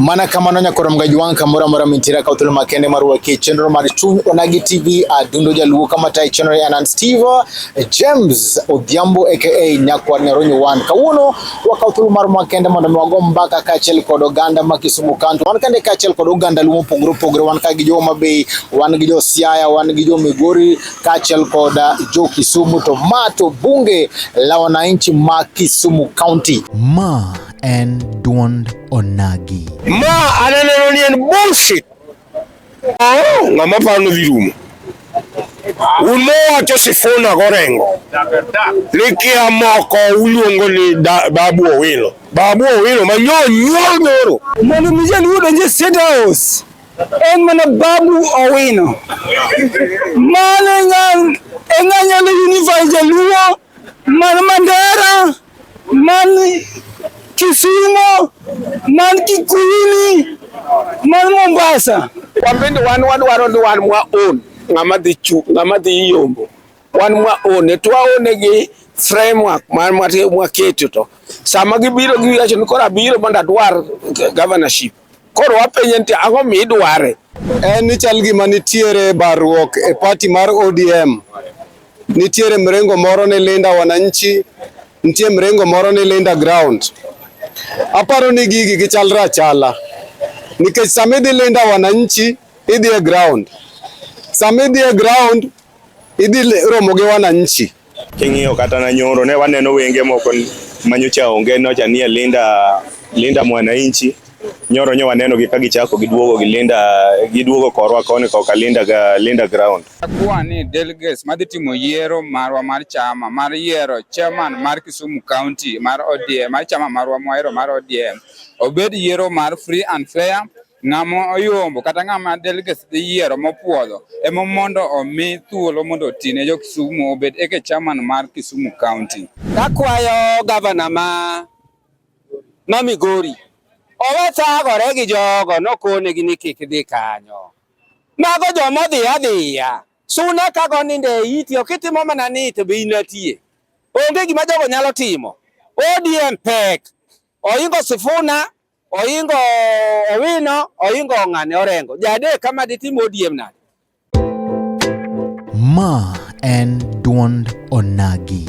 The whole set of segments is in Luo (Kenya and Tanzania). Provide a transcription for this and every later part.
Mana kamano nyakoro mgaji wang' kamoro amora mintiere ka uthulo makende mar wakie chenro mar chuny onagi TV adundo jaluo kama tayo chenro ya Anan Steve James Odhiambo aka Nyakwar Nyaronyo One. Kawuono wakawo thuolo mar makende mondo wago mbaka kaachiel kod oganda ma Kisumu County. Wan kande kaachiel kod oganda luo mopogore opogore wan ka gi jo Homa Bay, wan gi jo Siaya, wan gi jo Migori kaachiel kod jo Kisumu to ma to bunge la wananchi ma Kisumu County. Ma en duond onagi. Ma ananeno ni en bullshit. Oh, ng'ama paro ni dhi rumo. Un mowacho Sifuna gorengo ni kia moko uluongo ni Babu Owino. Babu Owino ma nyo nyuol nyoro. Mondo mi jaluo donje State House en mana Babu Owino. Mano e ng'anyalo unify jaluo man Mandera. man Kisumo, man Kikuyuni, man Mombasa. Wambende wan wadwaro ni wan mwa own ng'ama dhi chu ng'ama dhi yombo wan mwa one to waone gi framework mar mwaketo to sama gibiro giwacho ni koro abiro mondo adwar governorship Koro wapenye nti ang'o midware? En ni chal gima nitiere barruok e pati mar ODM. Nitiere mrengo moro ni Linda Wananchi, nitie mrengo moro ni Linda Ground. Aparo ni gigi gichalre achala nikech sama idhi Linda Wananchi idhi e ground, sama idhi e ground idhi romo gi Wananchi. King'iyo kata na nyoro ne waneno wenge moko manyocha onge nocha nie Linda Linda Mwananchi nyoro nyo waneno gi ka gichako giduogo gi Linda giduogo korwa koni koka Linda ga Linda ground. Kwa ni delegates madhi timo yiero marwa mar chama mar yiero chairman mar Kisumu County mar ODM mar chama marwa mwahero mar ODM obed yiero mar free and fair Ng'ama oyombo kata ng'ama delegates dhi yiero mopuodho ema mondo omi thuolo mondo oti ne jo Kisumu obed eke chairman mar Kisumu County. Akwayo gavana ma ma Migori owe thagore gi jogo nokonegi ni kik dhi kanyo. Mago joma odhi adhiya suna kago ninde iti ok itimo mana ni to be inatie. Onge gima jogo nyalo timo. ODM pek oingo Sifuna Oingo Owino, Oingo Ong'ane, Orengo. Jadek kama ditimo odiem nade? Ma en duond onagi.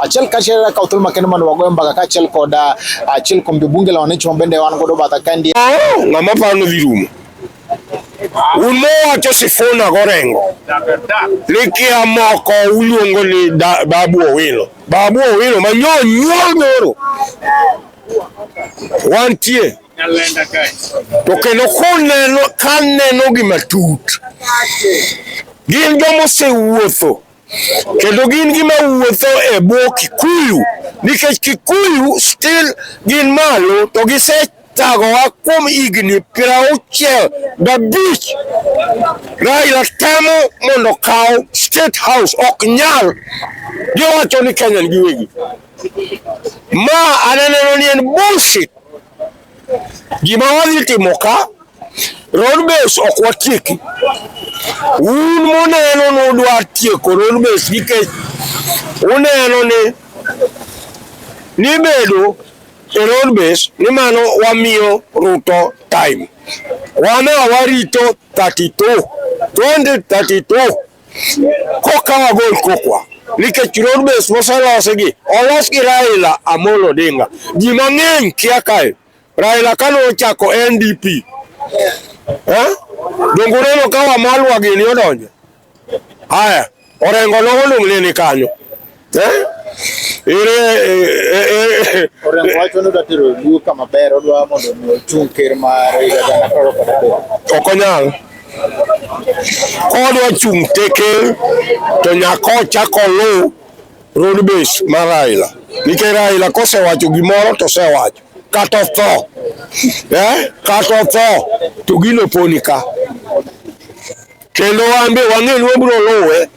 achiel kachiel ka uthuolo makende mondo wagoyo mbaka kachiel kod ah, achiel kuom jobunge la wananchi mabende wan godo batha kaendi ng'ama paro ni dhi rumo umowacho Sifuna Gorengo ni kia moko uluongo ni Babu Owino. Babu Owino ma nyo nyuol nyoro wantie to kendo koneno kaneno gi matut gin jomosewuotho kendo gin gima wuotho e bwo Kikuyu nikech Kikuyu still gin malo to gise tagowa kuom higni piero auchiel gabich Raila temo mondo kaw state house ok nyal giwacho ni Kenya giwegi ma aneneno ni en bullshit Gima wadhi timo ka road base ok watieki. Un muneno ni udwa tieko road base nikech uneno ni nibedo e road base ni mano wamiyo Ruto time. Wana warito 32 2032 Kokawa gol kokwa nikech road base moselosi gi olos gi Raila Amolo Odinga. Ji mang'eny kia kae Raila kane ochako NDP eh? donge uneno ka Wamalwa gini odonjo? Haya, Orengo nong'olung'ne ni kanyo Eh? Ere eh, Orengo eh, wacho ni odwa tero Luo kama ber odwa mondo ochung' ker mar higa gana apar kod adek. Ok onyal. Kodwa chung' te ker to nyaka ochak oluw road base mar Raila. Nikech Raila kosewacho gimoro to osewacho kata otho. Eh? Kata otho to gino poni ka. Kendo wan be wang'e ni wabiro luwe.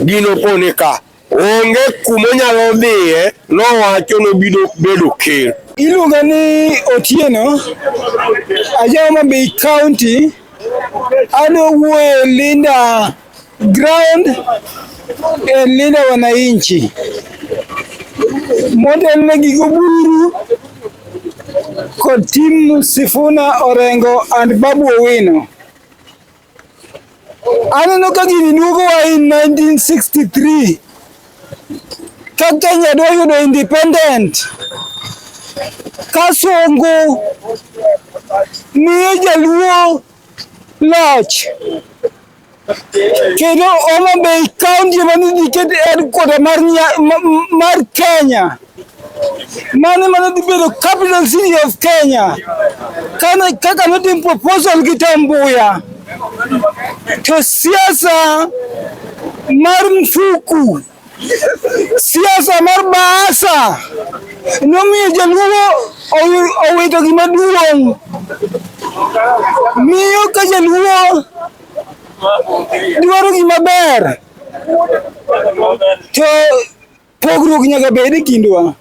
gino kone ka onge kuma onyalo dhiye nowacho nobiro bedo ker. Iluonga ni Otieno ajawa ma Bay County ano wuoye Linda ground e Linda wananchi motelne gi Oburu kod timu Sifuna Orengo and Babu Owino. Aneno ka gini duogowa in 1963 ka Kenya dwa yudo independent ka Songo miyo Jaluo loch kendo Homa Bay kaunti ema nodhi ket headquarter mar Kenya. Mani mana dibedo capital city of Kenya. Kana kaka notim proposal gi Tambuya. To siasa mar mfuku siasa mar baasa nomiyo jaluo owito gima duong' miyo ka jaluo dwaro gima ber to Pogruok nyaka bed e kindwa.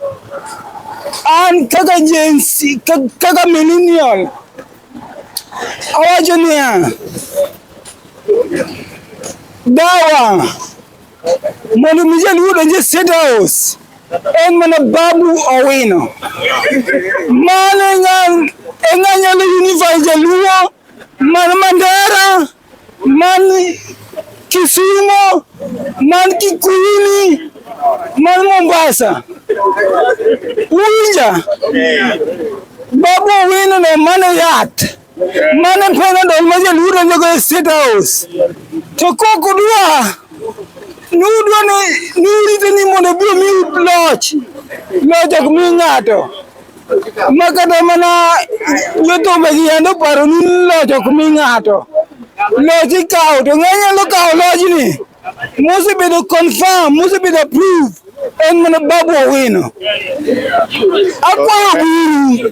An kaka jensi, kaka millennial, awacho niya, dawa mondo mi jaluo donj e State House en mana Babu Owino. Mano e ng'anyalo unify jaluo man Mandera man Kisumo, man Kikuyuni, man Mombasa. Uwinja? Babu Owino ne mane yath mane Panadol ma jaluo donjogo e State House to kok udwa ni udwa ni urite ni mondo obi omiu loch loch ok mi ng'ato Makata mana jothumbe gi yande oparo ni loch ok mi ng'ato. Loch ikawo to ng'e nyalo kawo lojni mosebedo confirm, mosebedo approved en mana Babu Owino. Akwayo Oburu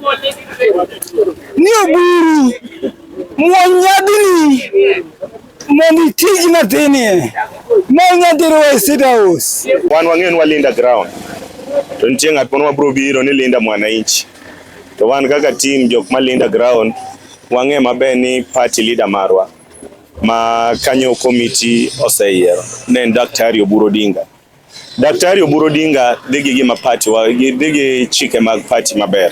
ni Oburu muony nyadini Mani tij natinie. Manya diro e state house. Wan wang'eyo ni walinda ground. To nitie ng'at moro mabiro biro ni linda mwananchi. To wan kaka team jok malinda ground wang'e maber ni party leader marwa ma kanyo komiti oseyiero ne en Daktari Oburu Odinga. Daktari Oburu Odinga dhi gi gima party wa dhi gi chike mag party maber.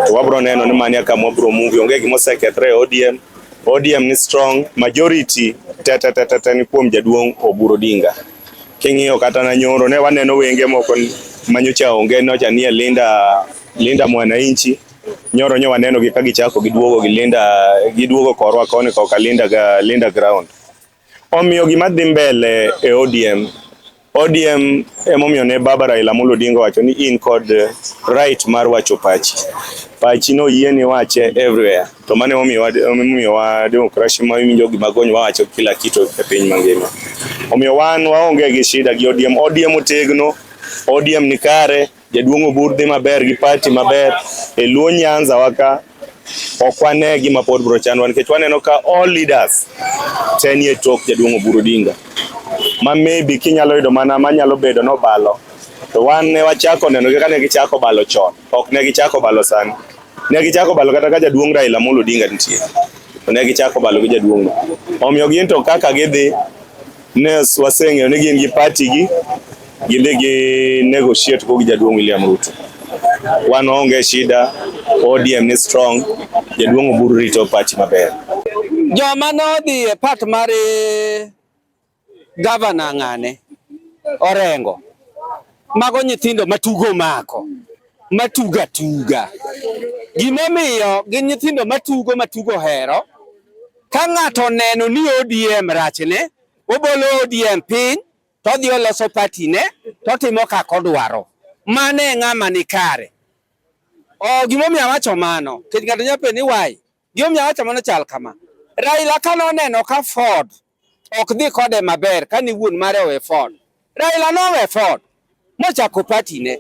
To wabro neno ni mania kama wabro move onge gima osekethre ODM. ODM ni strong majority tata tata tata ni kuom jaduong' Oburu Odinga. King'iyo kata na nyoro ne waneno wenge moko manyocha onge nocha nie Linda Linda Mwananchi nyoro nyo waneno gi ka gichako giduogo gi Linda giduogo korwa koni koka Linda ga Linda ground. Omiyo gima dhi mbele e ODM ODM emomiyo ne baba Raila Amolo Odinga wacho ni in kod eh, right mar wacho pachi pachi no yie ni wache everywhere to mane omiyo wa demokrasi ma winjo gima gony wacho kila kitu e piny mangima omiyo wan waonge gi shida gi ODM ODM otegno ODM ni kare Jaduong' Obur dhi maber gi pati maber e Luo Nyanza waka ok wane gima pod bro chandwa nikech waneno ka all leaders te nie tok Jaduong' Oburu Odinga ma maybe kinyalo yudo mana manyalo bedo nobalo to wan ne wachako neno kaka ne gichako balo chon ok ne gichako balo sani ne gichako balo kata ka Jaduong' Raila Amolo Odinga nitie ne gichako balo gi jaduong' omiyo gin to kaka gidhi Nes waseng'eyo ni gin gi party gi ginde gi negotiate go gi jaduong' William Ruto. Wan onge shida, ODM ni strong, jaduong' Oburu rito party maber. Joma nodhi e part mar eh, gavana ng'ane Orengo mago nyithindo matugo mako matuga tuga. Gimomiyo gin nyithindo matugo matugo hero, ka ng'ato oneno ni ODM rachne, obolo ODM piny, todhi oloso patine, totimo kaka odwaro. Mano e ng'ama ni kare. Oh, gimomiyo awacho mano, kech ng'ato nyapenjo ni why? Gimomiyo awacho mano chal kama. Raila ka noneno ka Ford ok dhi kode maber kane wuon mare owe fon. Raila nowe fon mochako pati ne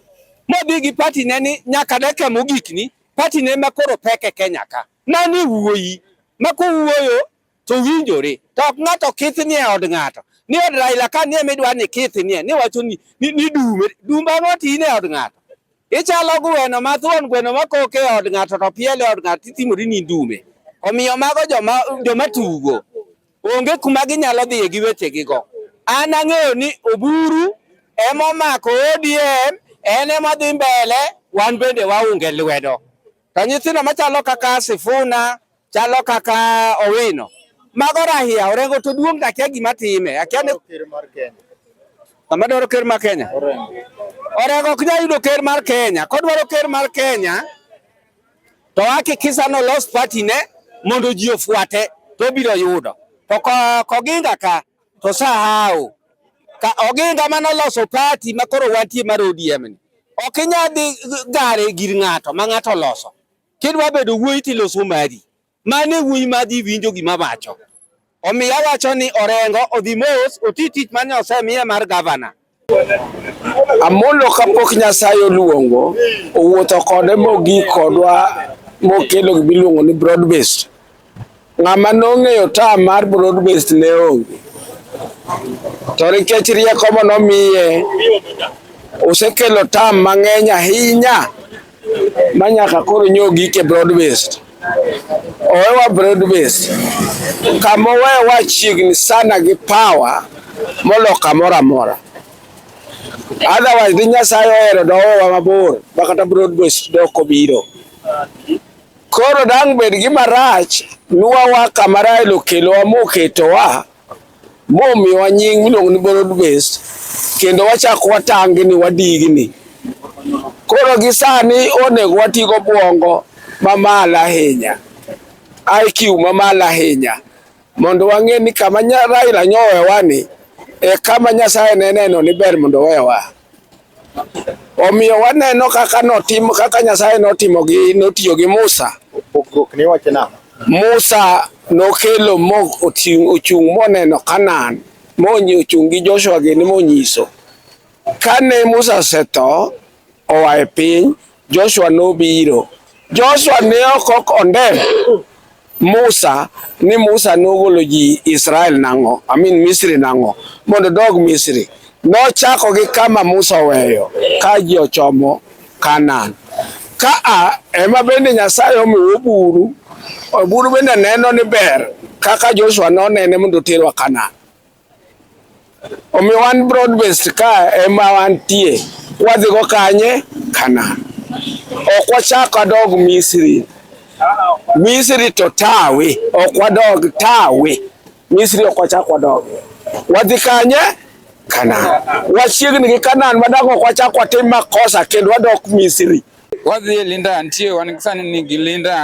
modhi gi pati ne ni nyaka dakika mogik ni pati ne ma koro pek e Kenya ka mani wuoyi ma kowuoyo to winjore to ok ng'ato kith ni e od ng'ato ni od Raila ka nie midwa ni kith nie ni wacho ni ni dume dumba moti ni e od ng'ato Ichalo gweno ma thuon gweno ma kok e od ng'ato to piel e od ng'ato itimori ni ndume. Omiyo mago joma joma tugo onge kuma ginyalo dhiye gi wechegigo. An ang'eyo ni Oburu emomako ODM en emadhi mbele wan bende waunge lwedo. To nyithindo machalo kaka Sifuna, Chalo kaka Owino. Mago rahia orengo to duong' to akia gima time. Akia ni ker mar Kenya. Sama dwaro ker mar Kenya. Orengo. Orengo ok nyal yudo ker mar Kenya. Kodwaro ker mar Kenya to hakikisha no loss party ne mondo ji ofuate to biro yudo. To koginga ka to sahau. Ka oginga mano loso party makoro wantie mar ODM ni. Ok inyal dhi gare gir ng'ato ma ng'ato loso. Kidwa bedo wuoyi tiloso mari. Mane wuoyi madhi winjo gima wacho. Omiyo awacho ni Orengo odhi mos oti tich mane osemiye mar gavana. Amolo kapok Nyasaye oluongo owuotho kode mogik kodwa mokelo gimiluongo ni broad based Ng'ama nong'eyo tam mar broad based ne onge, to nikech rieko ma nomiye osekelo tam mang'eny ahinya ma nyaka koro nyoo gike broad based. Owewa broad based kama owewa chiegni sana gi power molo kamoro amora otherwise ni Nyasaye ohero dowewa mabor makata broad based dok obiro. Koro dang' bed gima rach nwawa kama Rael okelowa moketowa momiwa nying miluongo ni borrowed based kendo wachako watangni wadigni. Koro gi sani onego wati gobwongo mamalo ahinya, IQ mamalo ahinya mondo wang'e ni kama Raila nyowewa ni e kama Nyasaye ne neno ni ber mondo owewa. Omiyo waneno kaka notimo kaka Nyasaye notimo gi notiyo gi Musa. Pogruok ni wacho nang'o? Musa nokelo mo ochung' moneno Kanaan monyi ochung' gi Joshua gini monyiso. Kane Musa osetho oa e piny Joshua nobiro. Joshua ne ok ok ondem Musa ni Musa nogolo ji Israel nang'o amin Misri nang'o mondo dog Misri nochako gi kama Musa oweyo ka ji ochomo Kanaan. Ka a ema bende Nyasaye omiwo buru, buru bende neno ni ber kaka Joshua nonene mondo oterwa Kanaan. Omiyo wan broad based ka ema wantie, wadhigo kanye? Kanaan. Ok wachak wadog Misri. Misri to tawe, ok wadog tawe. Misri ok wachak wadog. Wadhi kanye? Kanaan. Wachiegni gi Kanaan madang' ok wachak watim makosa kendo wadok Misri. Wadhi linda nitie wan sani ni gilinda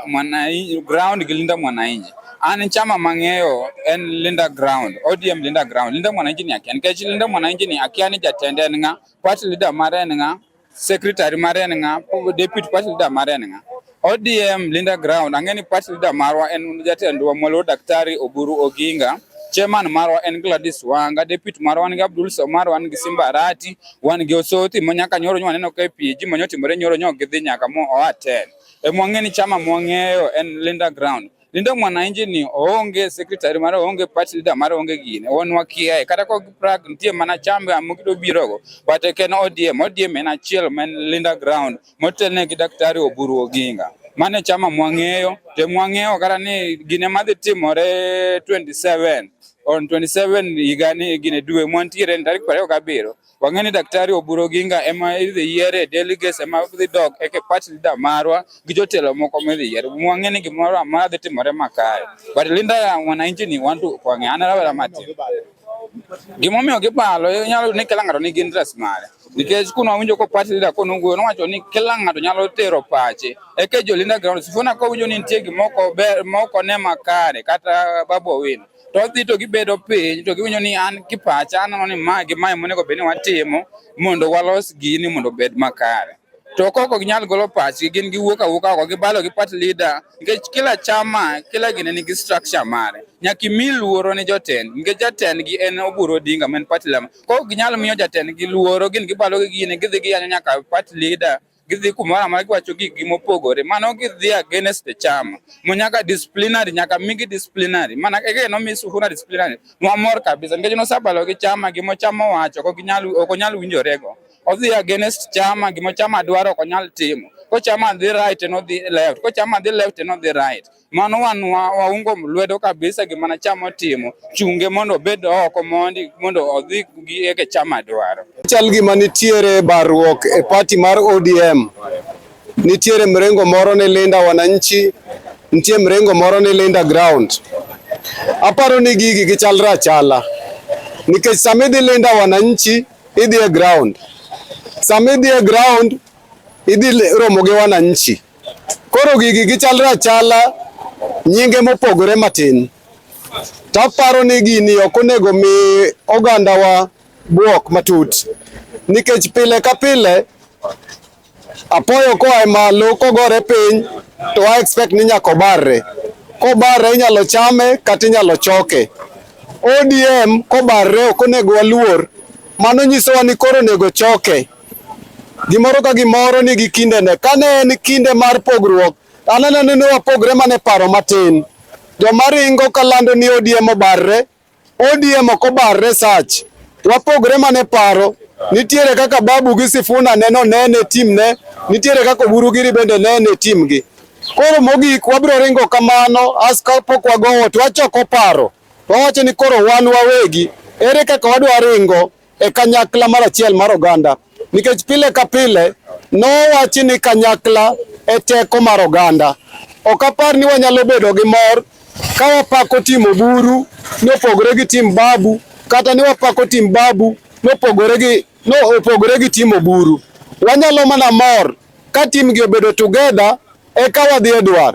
mwananchi ground gilinda mwananchi. An chama mang'eyo en linda ground, ODM linda ground. Linda mwananchi ni akia nikech linda mwananchi ni akia ni jatend en ng'a, party leader mare en ng'a, secretary mare en ng'a, deputy party leader mare en ng'a. ODM Linda Ground, ang'e ni party leader marwa en jatendwa Mwaluo Daktari Oburu Oginga. Chairman marwa en Gladys Wanga, deputy marwa wan gi Abdul Somar, wan gi Simba Arati, wan gi Osoti mo nyaka nyoro nyo waneno ka PG mo nyotimore nyoro nyo gidhi nyaka mo oatel. E mwang'e ni chama mwang'eyo en Linda Ground. Lindo mwananchi ni oonge secretary mare oonge party leader mare oonge gine won wakiaye kata ko Prague nitie mana chambe amukdo birogo but ken ODM ODM en achiel men Linda ground motelne gi daktari Oburu Oginga mane chama mwang'eyo te mwang'eyo kata ni gine madhi timore 27 on 27 higani gine dwe mwantiere tarik 27 Wang'e ni Daktari Oburu Oginga ema idhi yier e delegates ema dhi dok eke party leader marwa gi jotelo moko midhi yier. Wang'e ni gimoro amora dhi timore makare. But Linda ya wananchi ni wantu kwang'e an rawera matin. Gimomiyo gibalo inyalo yudo ni kila ng'ato nigi interest mare. Nikech kuno awinjo ko party leader kono wuoyo nowacho ni kila ng'ato nyalo tero pache. Eke jo Linda ground sifuna kowinjo ni nitie gimoko ber moko ne makare kata Babu Owino. to odhi to gibedo piny to giwinjo ni an kipacha aneno ni ma gi mae monego bed ni watimo mondo walos gini mondo obed makare to koko ginyal golo pachgi gin giwuok awuoka oko gibalo gi party leader nikech kila chama kila gine nigi structure mare nyaka imi luoro ni jotend nikech jatendgi en Oburu Odinga ma en party leader koko ginyal miyo jatendgi luoro gin gibalo gi gine gidhi giyanyo nyaka party leader gidhi kumoro amora giwacho gikgi mopogore mano gidhi against the chama mo nyaka disciplinary nyaka migi disciplinary mana ege nomi Sifuna disciplinary nwamor kabisa nikech nosabalo gi chama gimo chama owacho ok ginyal ok onyal winjorego odhi against chama gimo chama dwaro ok onyal timo ko chama dhi right en odhi left ko chama dhi left en odhi right Mano wan waungo lwedo kabisa gima na chama otimo, chunge mondo obed oko mondi mondo odhi gi eke chama dwaro. Chal gima nitiere barruok e pati mar ODM. Nitiere mrengo moro ni Linda Wananchi, nitie mrengo moro ni Linda Ground. Aparo ni gigi gichalre achala nikech sama idhi Linda Wananchi idhi e ground, sama idhi e ground idhi romo gi wananchi. Koro gigi gichalre achala nyinge mopogore matin. To aparo ni gini ok onego mi ogandawa buok matut nikech pile ka pile apoyo koa e malo kogore piny to I expect ni nyaka obarre. Kobarre inyalo chame kata inyalo choke. ODM kobarre ok onego waluor, mano nyisowa ni koro onego choke. Gimoro ka gimoro nigi kindene. Kane en kinde mar pogruok, an aneno ni wapogre mana e paro matin. Joma ringo kalando ni ODM obarre, ODM ok obarre sach. Wapogre mana e paro. Nitiere kaka Babu gi Sifuna neno nene timne, nitiere kaka Oburu Giri bende nene timgi. Koro mogik wabiro ringo kamano as kapok wagowo to wachoko paro. Wawacho ni koro wan wawegi, ere kaka wadwa ringo e kanyakla mar achiel mar oganda, nikech pile ka pile nowachi ni kanyakla e teko mar oganda. Ok apar ni wanyalo bedo gi mor ka wapako tim Oburu ni opogore gi tim Babu kata ni wapako tim Babu ni opogore gi no opogore gi tim Oburu. Wanyalo mana mor ka timgi obedo together eka wadhi e dwar.